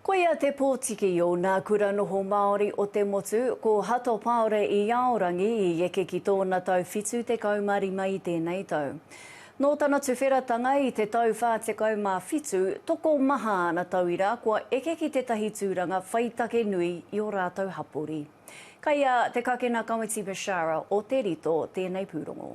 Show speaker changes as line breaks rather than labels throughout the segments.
Koia te pōtiki o nā kura noho Māori o te motu, ko Hato Paore i Aorangi i eke ki tōna tau 75 i tēnei tau. Nō tana tuwheratanga i te tau 47, tokomaha ana tauira kua eke ki tētahi tūranga whai take nui i ō rātou hapori. Kei a Te Kakena Kawiti Bashara o Te Rito tēnei pūrongo.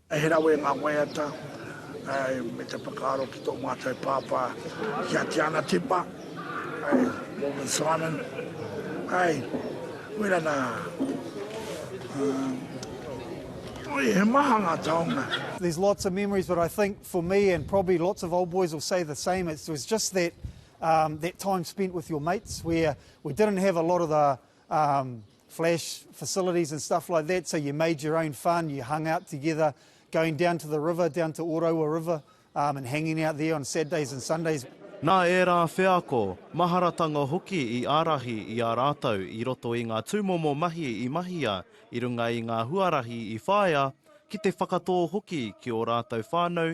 He rawe ngā
waiata me te whakaaro ki tō mātou pāpā, ki a Tiana Tipa, Morgan Simon. Wera nā. Oi, he maha ngā taonga. There's lots of memories
but I think for me and probably lots of old boys will say the same, it was just that time spent with your mates where we didn't have a lot of the flash facilities and stuff like that, so you made your own fun, you hung out together, going down to the river, down to Ōraua River and hanging out there on Saturdays and Sundays. Nā ērā
wheako, maharatanga hoki i ārahi i a rātou i roto i ngā tūmomo mahi i mahia i runga i ngā huarahi i whāia ki te whakatō hoki ki ō rātou whānau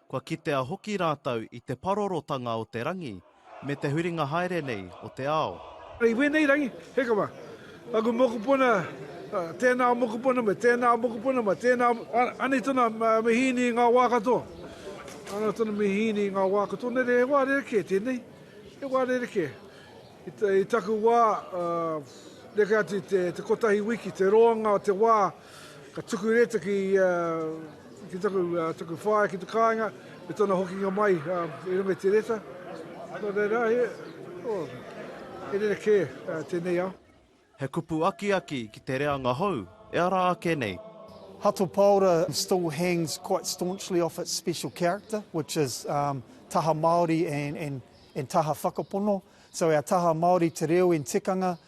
Kua kitea hoki rātou i te parorotanga o te rangi me te huringa haere nei o te ao. I wēnei rangi,
he kawa. Aku mokopuna, tēnā mokopuna, me tēnā mokopuna, me tēnā, anei tonu a Mihīni i ngā wā katoa. Anei tonu a Mihīni i ngā wā katoa. Nē reira, he wā rerekē tēnei. He wā rerekē. I taku wā, neke atu i te kotahi wiki, te roanga o te wā, Ka tuku reta ki taku whaea ki te kāinga, me tōna hokinga mai i runga i te reta. Nō reira, he rerekē tēnei ao. He kupu
akiaki ki te reanga hou, e ara ake nei. Hato Paora
still hangs quite staunchly off its special character, which is taha Māori and taha whakapono. So our taha Māori te reo and tikanga.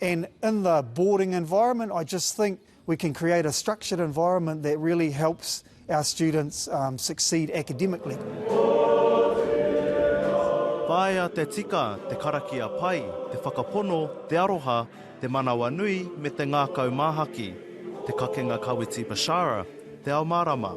And in the boarding environment, I just think we can create a structured environment that really helps our students um, succeed academically.
Taea te tika, te karakia pai, te whakapono, te aroha, te manawa nui me te ngākau māhaki, te kakenga Kawiti Bashara, Te Ao Mārama.